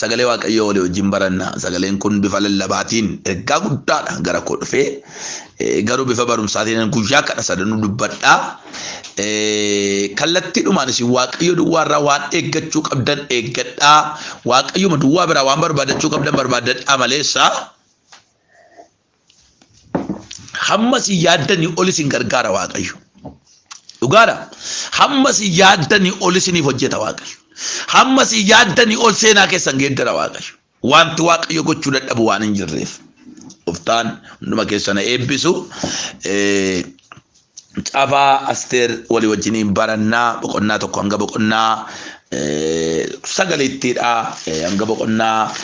Sagalee Waaqayyoo walii wajjin baranna. Sagaleen kun bifa lallabaatiin ergaa guddaadhaan gara koo dhufe. Garuu bifa barumsaatiin guyyaa kana sadanuu dubbadha. Kallattiidhumaan isin Waaqayyo duwwaa irraa waan eeggachuu qabdan eeggadhaa. Waaqayyuma duwwaa biraa waan barbaadachuu qabdan barbaaddadhaa maleessa. Hamma si yaaddanii ol isin gargaara Waaqayyo. Dhugaadha. Hamma si yaaddanii ol isiniif hojjeta Waaqayyo. Hamma si yaaddanii ol seenaa keessan geeddara Waaqayyo. Wanti Waaqayyo gochuu dadhabu waan hin jirreef. Gooftaan hunduma keessana eebbisu. Eh, Caafa Asteer walii wajjiniin barannaa boqonnaa tokko hanga boqonnaa sagaliittiidha. Hanga boqonnaa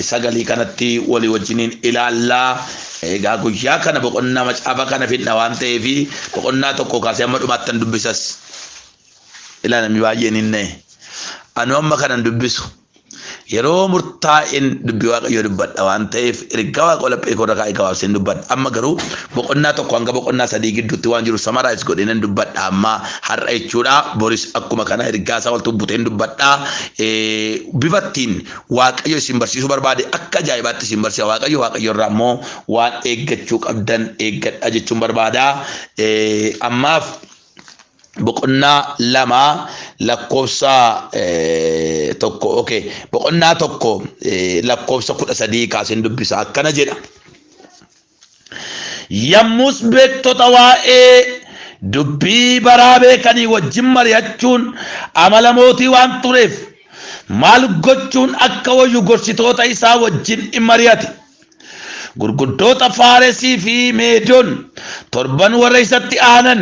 sagalii kanatti walii wajjiniin ilaallaa. Egaa guyyaa kana boqonnaa macaafa kana fidna waan ta'eef boqonnaa tokko kaasee amma dhumaattan dubbisas. Ilaa namni baay'een hin na'e. Anu amma kanan dubbisu. Yeroo murtaa'een dubbii Waaqayyoo dubbadha waan ta'eef ergaa Waaqoo laphee koorra kaa'e gabaabseen dubbadha. Amma garuu boqonnaa tokko hanga boqonnaa sadii gidduutti waan jiru samaraayis godhee nan dubbadha amma har'a jechuudha. Boris akkuma kana ergaa isaa waltu buteen dubbadha. Bifattiin Waaqayyo isin barsiisuu barbaade akka ajaa'ibaatti isin barsiisa Waaqayyo Waaqayyo irraa immoo waan eeggachuu qabdan eeggadha jechuun barbaada. Ammaaf boqonnaa lama lakkoofsa tokko okay boqonnaa tokko lakkoofsa kudha sadii kaaseen dubbisa akkana jedha. Yammus beektota waa'ee dubbii baraa beekanii wajjin mari'achuun amala mootii waan tureef maal gochuun akka wayyu gorsitoota isaa wajjin in mari'ate. Gurguddoota Faaresii fi Meedon torban warra isatti aanan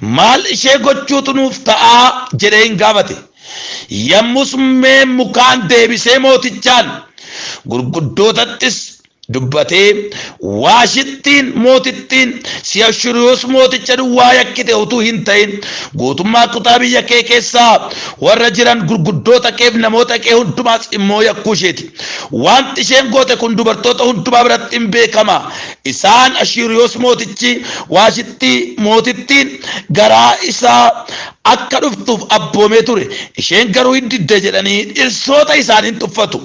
Maal ishee gochuutu nuuf ta'a? jedhee in gaafate. Yommus mukeen mukaan deebisee mootichaan, gurguddootattis dubbatee, Waashittiin mootittiin si Ashuuriyoos mooticha duwwaa yakkite utuu hin ta'in, guutummaa kutaa biyya kee keessa warra jiran gurguddoota keef namoota kee hundumaas immoo yakkuu ishee ti. Waanti isheen goote kun dubartoota hundumaa biratti in beekama Isaan Ashiiriyoos Mootichi Waashittii Mootittiin garaa isaa akka dhuftuuf abboomee ture, isheen garuu in didde jedhanii dhirsoota isaanii in tuffatu.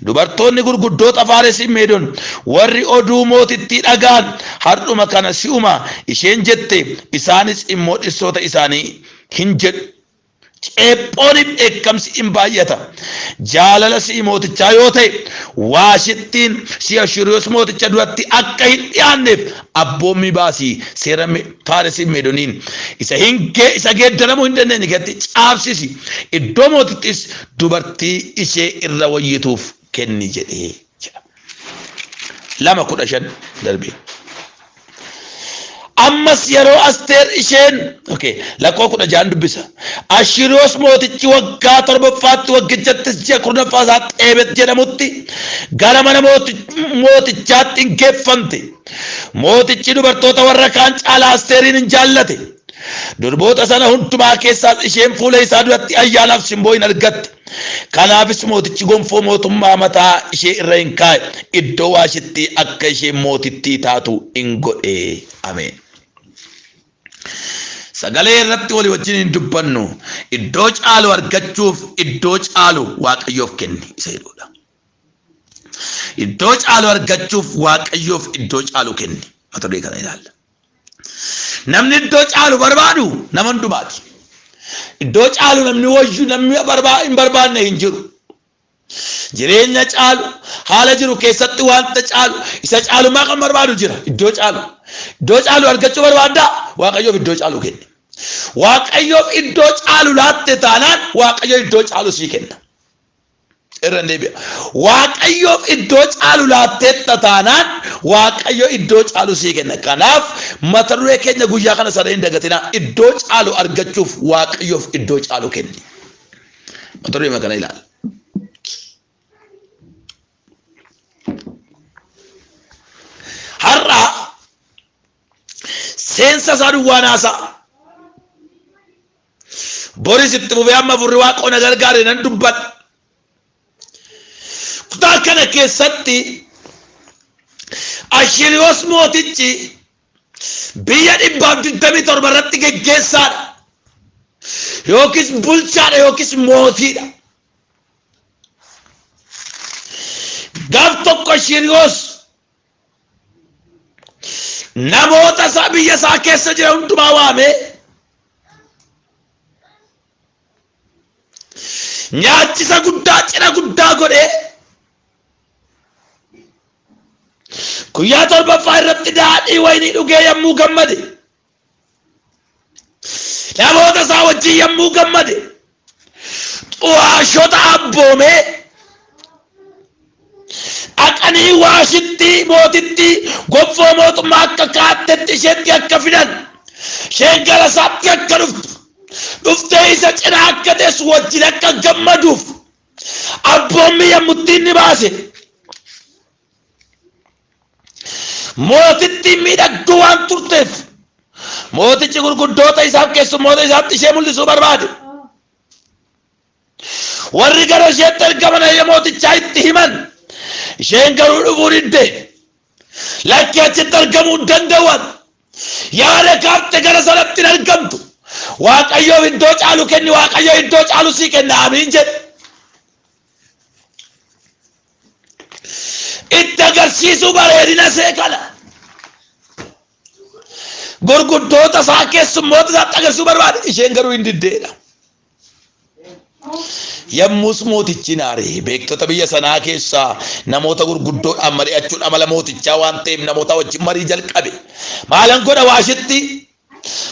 Dubartoonni gurguddoota Faaresii Meedon warri oduu mootittii dhaga'an har'uma kana si'uma isheen jette isaanis immoo dhirsoota isaanii hin jedhu. Ceephoon fi dheekkamsi in baay'ata. Jaalala si'i mootichaa yoo ta'e, Waashittiin si Ashiruuros mooticha duratti akka hin dhi'aanneef abboommii baasi, seera Faaresii fi Meedoniin isa geeddaramuu hin dandeenye keessatti caafsisi, iddoo mootittiis dubartii ishee irra wayyituuf kenni jedhe. jedha. lama kudha shan darbee. Ammas yeroo Asteer isheen okay, lakkoo kudha ja'an dubbisa. Ashiriyoos mootichi waggaa torbaffaatti waggichattis ji'a kurnaffaa isaa Xeebet jedhamutti gara mana mooti- mootichaatti hin geeffamte. Mootichi dubartoota warra kaan caalaa Asteeriin hin jaallate. Durboota sana hundumaa keessaas isheen fuula isaa duratti ayyaanaaf simboo hin argatte. Kanaafis mootichi gonfoo mootummaa mataa ishee irra in kaa'e, iddoo Waashittii akka isheen mootittii taatu in godhe. Ameen. Sagalee irratti walii wajjin hin dubbannu. Iddoo caalu argachuuf iddoo caalu Waaqayyoof kenni isa jedhuudha. Iddoo caalu argachuuf Waaqayyoof iddoo caalu kenni. Mata duree kana ilaalla. Namni iddoo caalu barbaadu nama hundumaati. Iddoo caalu namni wayyu namni hin barbaanne hin jiru. Jireenya caalu haala jiru keessatti wanta caalu isa caalummaa kan barbaadu jira iddoo caalu. Iddoo caalu argachuu barbaaddaa waaqayyoof iddoo caalu kenni. Waaqayyoof iddoo caalu laatte taanaan waaqayyo iddoo caalu sii kenna. Irra deebi'a. Waaqayyoof iddoo caalu laatteetta taanaan Waaqayyo iddoo caalu sii kenna. Kanaaf mata duree keenya guyyaa kana sana hin dagatinaa. Iddoo caalu argachuuf Waaqayyoof iddoo caalu kenni. Mata duree kana ilaali. Har'a seensa isaa duwwaa naasaa. Boris itti fufee amma furri waaqoo na gargaare nan dubbadha. Kutaa kana keessatti Ashiriyoos mootichi biyya dhibbaaf digdamii torba irratti geggeessaadha. Yookiis bulchaadha yookiis mootiidha. Gaaf tokko Ashiriyoos namoota isaa biyya isaa keessa jiran hundumaa waamee nyaachisa guddaa cidha guddaa godhee guyyaa torbaffaa irratti daadhii waynii dhugee yommuu gammade Namoota isaa wajjin yommuu gammade xu'aashota abboomee dhaqanii waashittii mootittii gonfoo mootummaa akka kaattetti isheetti akka fidan isheen gara isaatti akka dhuftu dhuftee isa cina akka teessu wajjin akka gammaduuf abboommii yommuu ittiin ni baase. Mootittiin miidhagduu waan turteef mootichi gurguddoota isaaf keessummoota isaatti ishee mul'isuu barbaade. Warri gara isheetti ergaman ayya mootichaa itti himan. Isheen garuu dhufuu didde. Lakki achitti argamuu hin danda'an. Yaada kaafte gara sanatti hin argamtu. Waaqayyoof iddoo caalu kenni Waaqayyo iddoo caalu sii kenna amiin jedhe. itti agarsiisuu bareedina see kana gurguddoota isaa keessummoota isaatti agarsiisuu barbaade isheen garuu hin diddeedha. Yommus mootichi naare beektota biyya sanaa keessaa namoota gurguddoodhaan mari'achuun amala mootichaa waan ta'eef namoota wajjin marii jalqabe. Maalan godha waashitti?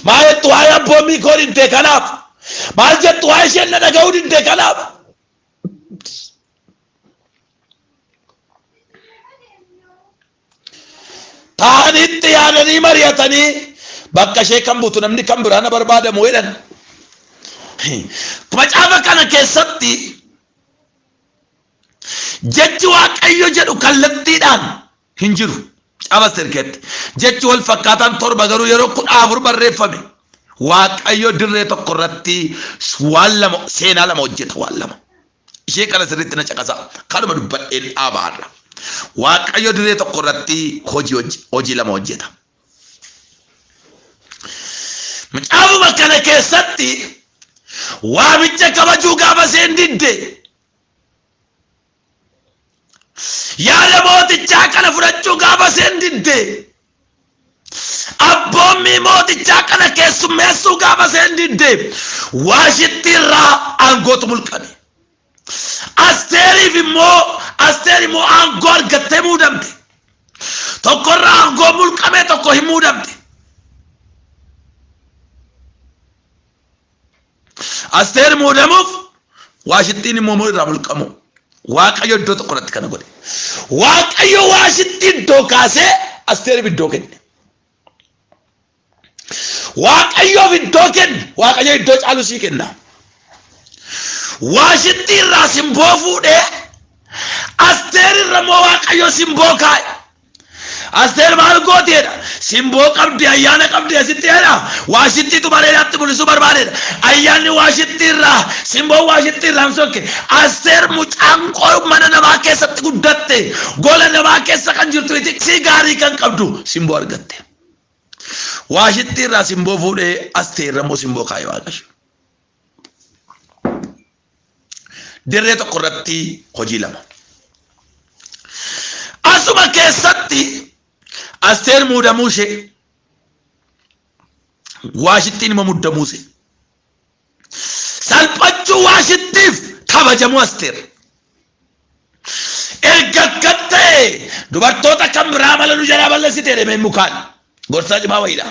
Maal jettu waa'ee abboommii koo didde kanaaf? Maal jettu waa'ee isheen na dhaga'uu didde kanaaf? Taa'anitti yaadanii mari'atanii bakka ishee kan buutu namni kan biraana barbaadamu jedhan. Macaafa kana keessatti jechi waaqayyo jedhu kallattiidhaan hin jiru. Caba sirkeetti. Jechi wal fakkaataan torba garuu yeroo kudha afur barreeffame. Waaqayyo dirree tokko irratti waan lama seenaa lama hojjeta waan lama. Ishee kana sirriitti na caqasaa. Kanuma dubbadheen dhaaba har'a. Waaqayyo dirree tokko irratti hojii hojje- hojii lama hojjeta. Macaafuma kana keessatti waamicha kabajuu gaafa isheen didde Yaada mootichaa kana fudhachuu gaafa isheen didde abboommii mootichaa kana keessummeessuu gaafa isheen didde waashitti irraa aangootu mulqame. Asteeriif immoo asteer immoo aangoo argattee muudamte. Tokko irraa aangoo mulqame tokko hin muudamte. Asteer muudamuuf waashittiin immoo immoo irraa mulqamuu. Waaqayyo iddoo tokko irratti kana godhe. Waaqayyo waashitti iddoo kaasee asteeriif iddoo kenne. Waaqayyoof iddoo kenne waaqayyo iddoo caalu sii kenna. Waashitti irraa simboo fuudhee asteer irra immoo waaqayyo simboo kaa'e. Asteer maal gooti jedha. Simboo qabdi, ayyaana qabdi asitti jedha. Waashittiitu bareedaatti mul'isuu barbaadedha. Ayyaanni waashittii irraa, simboon waashittii irraa hin sokke. Asteer mucaan koo mana namaa keessatti guddatte, gola namaa keessa kan jirtu itiksii gaarii kan qabdu simboo argatte. Waashittii irraa simboo fuudhee asteerra immoo simboo kaa'e waaqayyo. Dirree tokko irratti hojii lama. Asuma keessatti Asteer muudamuu ishee waashittiin immoo muddamuu ishee. Salphachuu waashittiif kabajamuu Asteer. Erga akkan ta'e dubartoota kan biraa mala nu jalaa balleessite deemee mukaan gorsaa cimaa wayiidha.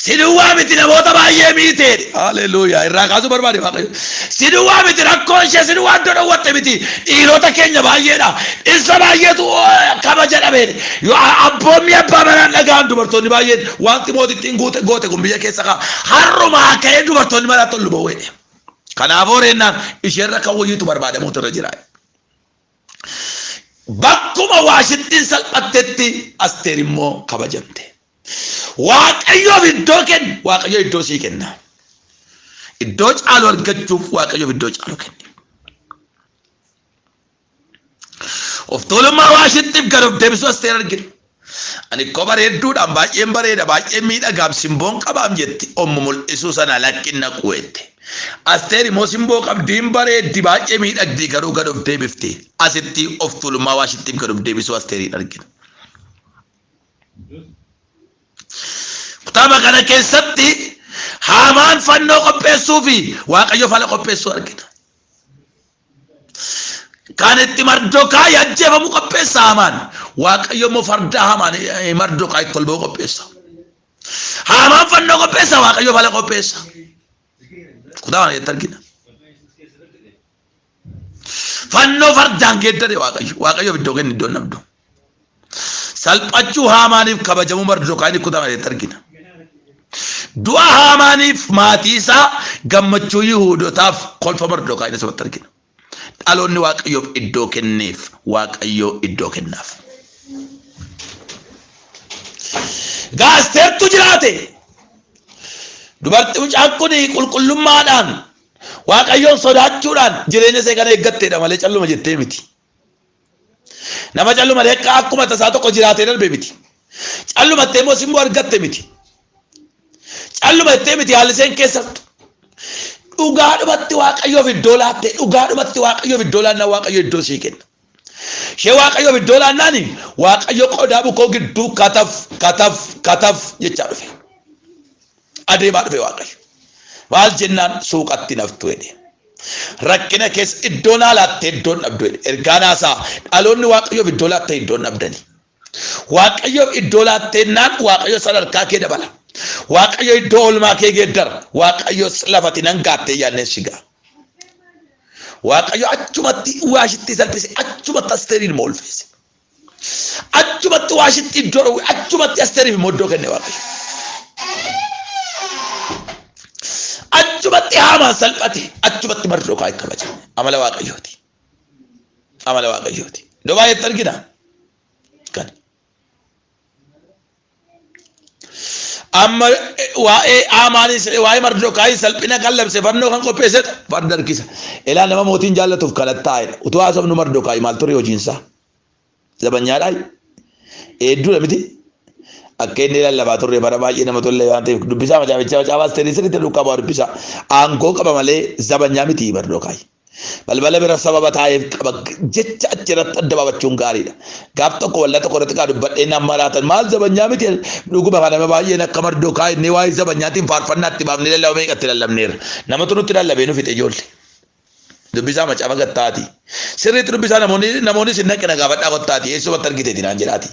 Si duwwaa miti namoota baay'ee miiteedhe. Haleluuyaa irraa kaasuu barbaade waaqayyo. Si duwwaa miti rakkoo ishee si duwwaa iddoo dhowwatte miti dhiirota keenya baay'eedha. Dhirsa baay'eetu eh, kabaja dhabeedhe. Yoo a- abboommii abbaa manaan dhaga'an dubartoonni baay'een wanti mootittiin guute goote kun biyya keessa ka'a. Har'umaa ka'ee dubartoonni manaa tollu bowweedhe. Kanaafuu reennaan isheerra kan wayyiitu barbaadamuutu irra jira. Bakkuma waashittiin salphattetti asteer immoo kabajamte. Waaqayyoof iddoo kenni, Waaqayyo iddoo sii kenna. Iddoo caalu argachuuf Waaqayyoof iddoo caalu kenni. Of tuulummaa Waashittiif gad of deebisuu Asteer argina. Ani koo bareedduudhaan baay'een bareeda baay'een miidhagaam simboon qabaam jetti ommu mul'isuu sana lakkin naquu jette. Asteer immoo simboo qabdi hin bareeddi baay'ee miidhagdi garuu gad of deebifti. Asitti of tuulummaa Waashittiif gad of deebisuu Asteeriin argina. Kutaaba kana keessatti haamaan fannoo qopheessuu fi waaqayyo fala qopheessuu argina. Kan itti mardokaa ajjeefamu qopheessa haamaan waaqayyo immoo fardaa haamaan mardokaa itti ol ba'u qopheessa. Haamaan fannoo qopheessa waaqayyo fala qopheessa. Kutaaba kana keessatti argina. Fannoo fardaan geeddare Waaqayyo. Waaqayyoof iddoo kenni iddoon dhabdu. Salphachuu haamaaniif kabajamuu Mardokaayiin kutaa maleetti argina. Du'a haamaaniif maatii isaa gammachuu Yihuudotaaf kolfa Mardokaayiin asumatti argina. Dhaloonni Waaqayyoof iddoo kenneef Waaqayyoo iddoo kennaaf. Gaasteertu jiraate. Dubartii mucaan kun qulqullummaadhaan Waaqayyoon sodaachuudhaan jireenya see kan eeggatteedha malee calluma jettee miti. Nama calluma leeqqa akkuma tasaa tokko jiraatee darbe miti. Calluma ittee immoo simboo argatte miti. Calluma ittee miti haalli seen keessattu. Dhugaadhumatti waaqayyoof iddoo laatte dhugaadhumatti waaqayyoof iddoo laannaa waaqayyo iddoo sii kenna. Ishee waaqayyoof iddoo laannaani waaqayyo qodaa bukoo gidduu kataf kataf kataf jechaa dhufe. Adeemaa dhufe Waaqayyo. Maal jennaan suuqatti naftu jedhe. Rakkina keessa iddoo naa laattee iddoon dhabdu jedhe. Ergaa naasaa dhaloonni Waaqayyoof iddoo laattee iddoon dhabdani. Waaqayyoof iddoo laattennaan Waaqayyo sadarkaa kee dabala. Waaqayyo iddoo olmaa kee geeddara. Waaqayyo lafati nan gaattee yaadneen sigaa. Waaqayyo achumatti waashitti salphise achumatti asteeriin moolfeesse. Achumatti waashitti iddoo dhowwe achumatti Asteeriif immoo iddoo kenne Waaqayyo. Achumatti haamaan salphate achumatti mardokaa hin kabaje. Amala Waaqayyooti. Amala Waaqayyooti. Iddoo baay'eetti argina. Kan. Amma waa'ee Aamaanis ta'e waa'ee Mardokaayi salphina kan labse fannoo kan qopheesse farda harkisa. Ilaa nama mootiin jaallatuuf kadhattaa'edha. Utuu haasofnu Mardokaayi maal ture hojiinsaa? Zabanyaadhaa? Eedduudha miti? Akka inni lallabaa turre bara baay'ee nama tolle waan ta'eef dubbisaa macaafichaa macaafaa asteerii sirriitti duukaa bu'aa dubbisaa. Aangoo qaba malee zabanyaa miti Mardokaayi. Balbala bira sababa taa'eef qaba jecha achi irratti adda baafachuun gaariidha. Gaaf tokko waldaa tokko irratti kaa dubbadhee naan maraatan maal zabanyaa miti dhuguma kana nama baay'een akka mardoo kaa inni waa'ee zabanyaatiin faarfannaa itti baafnee lallaba meeqa itti lallabneerra. Namatu nutti lallabee nu fixe ijoollee. Dubbisaa macaafa gattaati. Sirriitti dubbisaa namoonni namoonni sin naqina gaafadhaa kottaati eessumatti argiteeti naan jedhaati.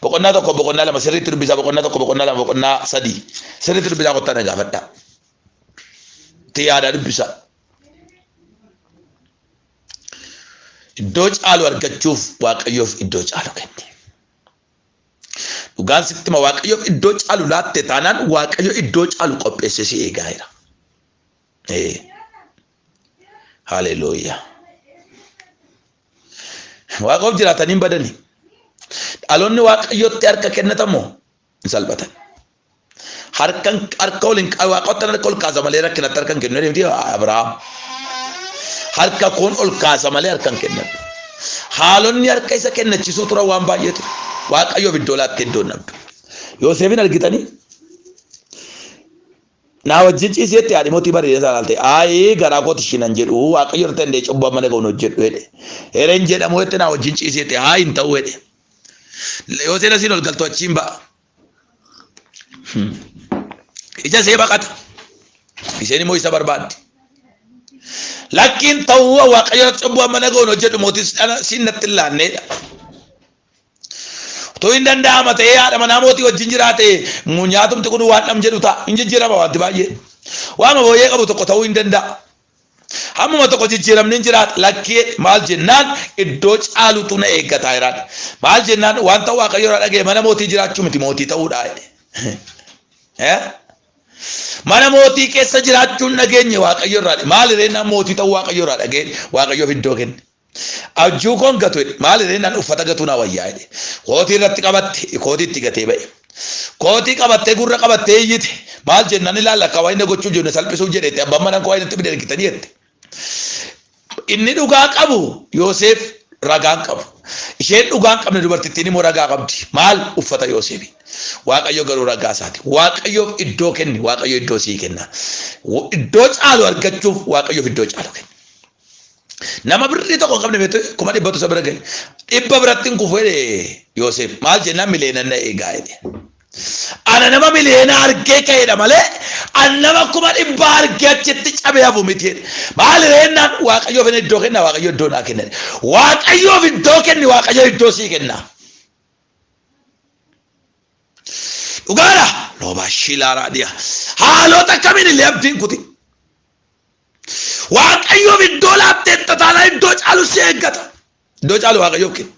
Boqonnaa tokko boqonnaa lama sirriitti dubbisaa boqonnaa tokko boqonnaa lama boqonnaa sadii sirriitti dubbisaa kottaa na gaafadhaa. Itti yaadaa dubbisaa. Iddoo caalu argachuuf Waaqayyoof iddoo caalu kenne. Dhugaan sitti hima Waaqayyoof iddoo caalu laatte taanaan Waaqayyo iddoo caalu qopheessee si eegaa jira. Ee. Haleluuyaa. Waaqoof jiraatanii hin badani. Dhaloonni Waaqayyootti harka kennatamoo hin salphatan harkan harka ol hin waaqottan harka ol kaasa malee rakkinatti harkan kennu jedhamti Abrahaam harka kun ol kaasa malee harkan kennan haalonni harka isa kennachiisuu turan waan baay'eetu waaqayyoof iddoo laattee iddoo nabdu Yooseefin argitanii naa wajjin ciiseetti haadhi mootii bareedee isaa laalte aayee garaa kooti shinan jedhu waaqayyo irratti dandee cubbuu amma naga'uun hojjedhu jedhe hereen jedhamu jetti naa wajjin ciiseetti haa hin ta'u jedhe Yoo seena siin ol galtu achiin ba'a. Ija see baqata. Isheen immoo isa barbaaddi. Lakkiin ta'uu waaqayyo irratti cubbuu amma nagoon hojjedhu mootis siin natti hin laanneedha. Utuu hin danda'ama ta'ee haadha manaa mootii wajjin jiraate nyaatumti kun waan nam jedhu ta'a. Hin jijjiirama wanti baay'ee. Waama booyyee qabu tokko ta'uu hin danda'a. Hammuma tokko jijjiiramni hin jiraata lakkii maal jennaan iddoo caalutu na eegga taayiraan maal jennaan wanta waaqayyo irraa dhaga'e mana mootii jiraachuu miti mootii ta'uudha mana mootii keessa jiraachuun dhageenye waaqayyo irraa maal irreen mootii ta'uu waaqayyo irraa dhaga'e waaqayyoof iddoo kenne Abjuu koon gatu jedhe. Maal jedhee nan uffata gatuu naa wayyaa jedhe. Kootii irratti qabatte kootii itti gatee ba'e. Kootii qabattee gurra qabattee iyyite. Maal jennan ilaalla akka wayna gochuuf jiru na salphisuuf jedheetti abbaan manaan koo wayna itti bide ergitanii jette. Inni dhugaa qabu Yooseef ragaan qabu. Isheen dhugaa hin qabne dubartittiin immoo ragaa qabdi. Maal uffata Yooseefi. Waaqayyo garuu ragaa isaati. Waaqayyoof iddoo kenni Waaqayyo iddoo sii kenna. Iddoo caalu argachuuf Waaqayyoof iddoo caalu kenni. Nama birrii tokko hin qabne beektu kuma dhibbatu isa bira gale. Dhibba biratti hin kufu jedhe Yooseef. Maal jennaan miliyoona na eegaa jedhe. Ana nama miliyoona argee ka'edha malee an nama kuma dhibba argee achitti cabee hafu miti jedhe. Maal reennaan waaqayyoof inni iddoo kenna waaqayyo iddoo naa kenna. Waaqayyoof iddoo kenni waaqayyo iddoo sii kenna. Dhugaadha. Loobaa shiilaa raadhiyaa. Haalota kamiin illee abdiin kuti. Waaqayyoof iddoo laatteetta taanaan iddoo caalu si eeggata. Iddoo caalu waaqayyoof kenna.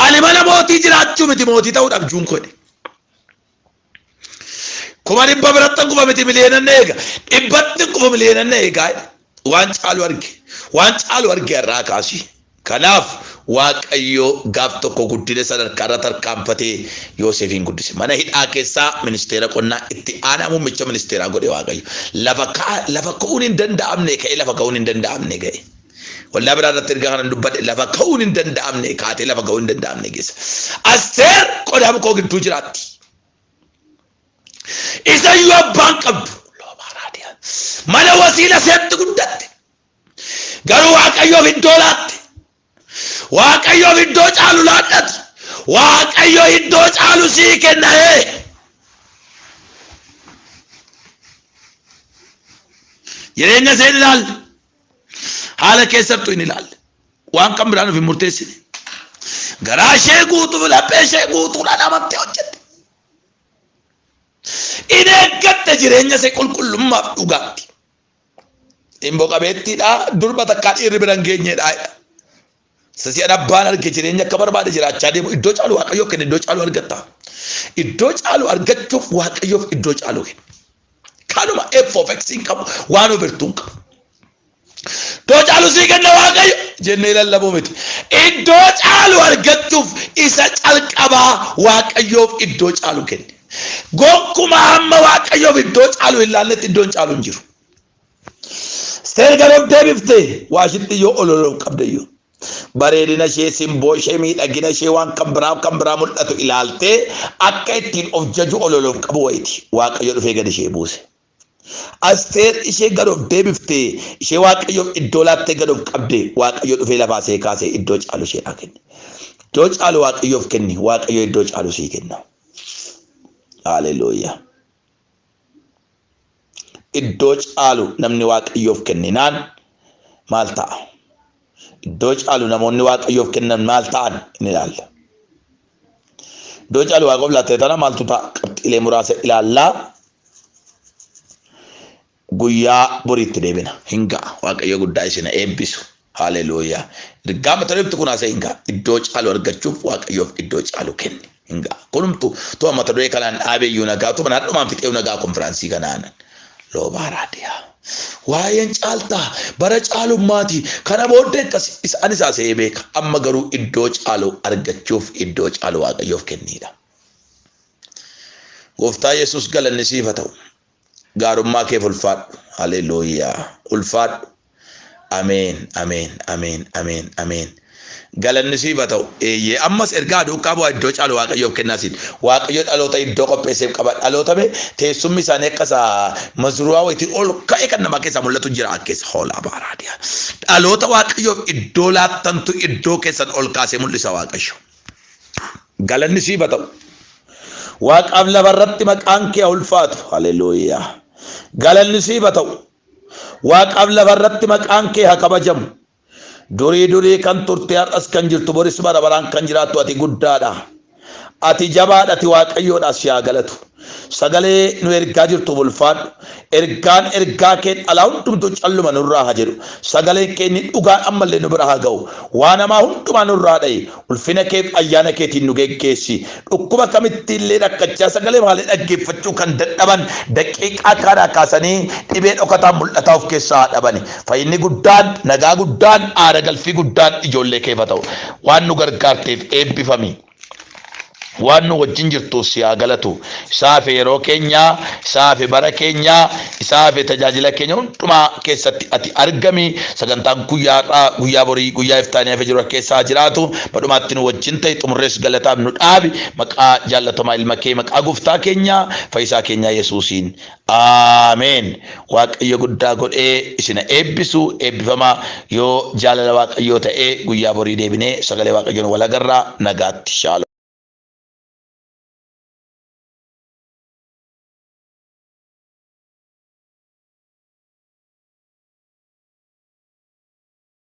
Ani mana mootii jiraachuu miti mootii ta'uu dhabjuun koodhe. Kuma dhibba biratti kufa miti miliyeenan na eega. Dhibbatti kufa miliyeenan na eegaa. Waan caalu arge. Waan caalu arge irraa kaasii. Kanaaf Waaqayyo gaaf tokko guddina sadarkaa irra tarkaanfatee Yooseefiin guddise. Mana hidhaa keessaa ministeera qonnaa itti aanaa muummicha ministeeraa godhe Waaqayyo. Lafa ka'a lafa ka'uun hin danda'amne ka'ee lafa ka'uun hin danda'amne ga'e. Waldaa biraa irratti erga kanan dubbadhe lafa ka'uun hin danda'amne kaatee lafa ka'uun hin danda'amne geessa. Asteer qodaa mukoo gidduu jiraatti. Isa iyyuu abbaan qabdu. Loomaa raadiyaa. Mana wasiila seetti guddatte. Garuu Waaqayyoof iddoo laatte. Waaqayyoof iddoo caalu laadhati. Waaqayyo iddoo caalu sii kenna ee. Jireenya isheen ilaalle. Haala keessattuu hin ilaalle. Waan kan biraan of hin murteessine. Garaa ishee guutuuf laphee ishee guutuudhaan amantee hojjette. In eeggatte jireenya ishee qulqullummaaf dhugaatti. Imbo qabeettiidha durba takkaa dhiirri bira hin geenyedha. Sasi'an abbaan arge jireenya akka barbaade jiraachaa deemu iddoo caalu waaqayyoo kenna iddoo caalu argatta. Iddoo caalu argachuuf waaqayyoof iddoo caalu kenna. Kanuma F of X hin qabu waan ofirtuu hin qabu. Iddoo caalu sii kenna waaqayyo jennee lallabuu miti. Iddoo caalu argachuuf isa calqabaa waaqayyoof iddoo caalu kenni. Gonkumaa hamma Waaqayyoof iddoo caalu hin laannetti iddoon caalu hin jiru. Seergan of deebifte waashitti yoo ololoof qabda iyyuu. Bareedina ishee, simboo ishee, miidhagina ishee waan kan biraa kan biraa mul'atu ilaaltee akka ittiin of jaju ololoof qabu wayiti. Waaqayyo dhufee gad ishee buuse. Asteer ishee gad of deebifte, ishee Waaqayyoof iddoo laattee gad of qabde, Waaqayyo dhufee lafaa ishee kaasee iddoo caalu isheedhaa kenne. Iddoo caalu Waaqayyoof kenni, Waaqayyo iddoo caalu sii kenna. Haaleluyyaa. Iddoo caalu namni Waaqayyoof kenninaan maal ta'a? Iddoo caalu namoonni Waaqayyoof kennan maal ta'an ni ilaalla. Iddoo caalu Waaqayyoof laattee tana maaltu ta'a? Qabxiilee muraasa ilaallaa guyyaa boriitti deebina. Hin ga'a. Waaqayyo guddaa isin eebbisu. Haaleluuyaa. Ergaa mata duree kun haasa'e hin ga'a. Iddoo caalu argachuuf Waaqayyoof iddoo caalu kenni. Inga. Kunumtu tuma mata duree kanaan dhaabee iyyuu nagaa tuma naadhumaan fixee nagaa konfiraansii kanaan loobaa raadiyaa. Waa'een caaltaa bara caalummaati kana booddee akkasi isaan isaa se'ee beeka amma garuu iddoo caalu argachuuf iddoo caalu waaqayyoof kenniidha. Gooftaa Yesuus galanni siif haa ta'u. gaarummaa keef ulfaadhu haleluuyaa ulfaadhu ameen ameen ameen ameen ameen galanni siif haa ta'u eeyyee ammas ergaa duukaa bu'aa iddoo caalu waaqayyoof kennaa siin waaqayyo dhaloota iddoo qopheesseef qaba dhaloota mee teessumni isaanii akka isaa mazruwaa wayitii ol ka'e kan namaa keessaa mul'atu jira akkeessa hoolaa baaraadiyaa dhaloota waaqayyoof iddoo laattantu iddoo keessan ol kaasee mul'isa waaqayyo Galanni siif haa ta'u. Waaqaaf lafa irratti maqaan kee haa ulfaatu. Haleluuyaa. Galanni siif haa ta'u. Waaqaaf lafa irratti maqaan kee haa kabajamu. Durii durii kan turte har'as kan jirtu boris bara baraan kan jiraattu ati guddaadha. Ati jabaadha ati waaqayyoodha si haa galatu. Sagalee nu ergaa jirtuuf ulfaadhu. Ergaan ergaa keen alaa hundumtuu calluma nurraa haa jedhu. Sagaleen kee inni dhugaan ammallee nu bira haa ga'u. Waan hamaa hundumaa nurraa dha'i. Ulfina keef ayyaana keetiin nu geggeessi. Dhukkuba kamittiillee rakkachaa sagalee malee dhaggeeffachuu kan dadhaban daqiiqaa kaanaa kaasanii dhibee dhokataan mul'ataa of keessaa haa dhabani. Fayyinni guddaan, nagaa guddaan, aara galfii guddaan ijoollee keef haa ta'u. Waan nu gargaarteef eebbifami. waan nu wajjin jirtuuf si haa galatu. Isaafi yeroo keenya, isaafi bara keenya, isaafi tajaajila keenya hundumaa keessatti ati argami. Sagantaan guyyaa har'aa, guyyaa borii, guyyaa iftaanii hafe jiru keessa haa jiraatu. Badhumaatti nu wajjin ta'e xumurrees galataaf nu dhaabi. Maqaa jaallatamaa ilma kee, maqaa gooftaa keenya, fayyisaa keenyaa Yesuusiin. Amen waaqayyo guddaa godhee isina eebbisu eebbifama yoo jaalala waaqayyoo ta'e guyyaa borii deebinee sagalee waaqayyoon wal agarra nagaatti shaalo.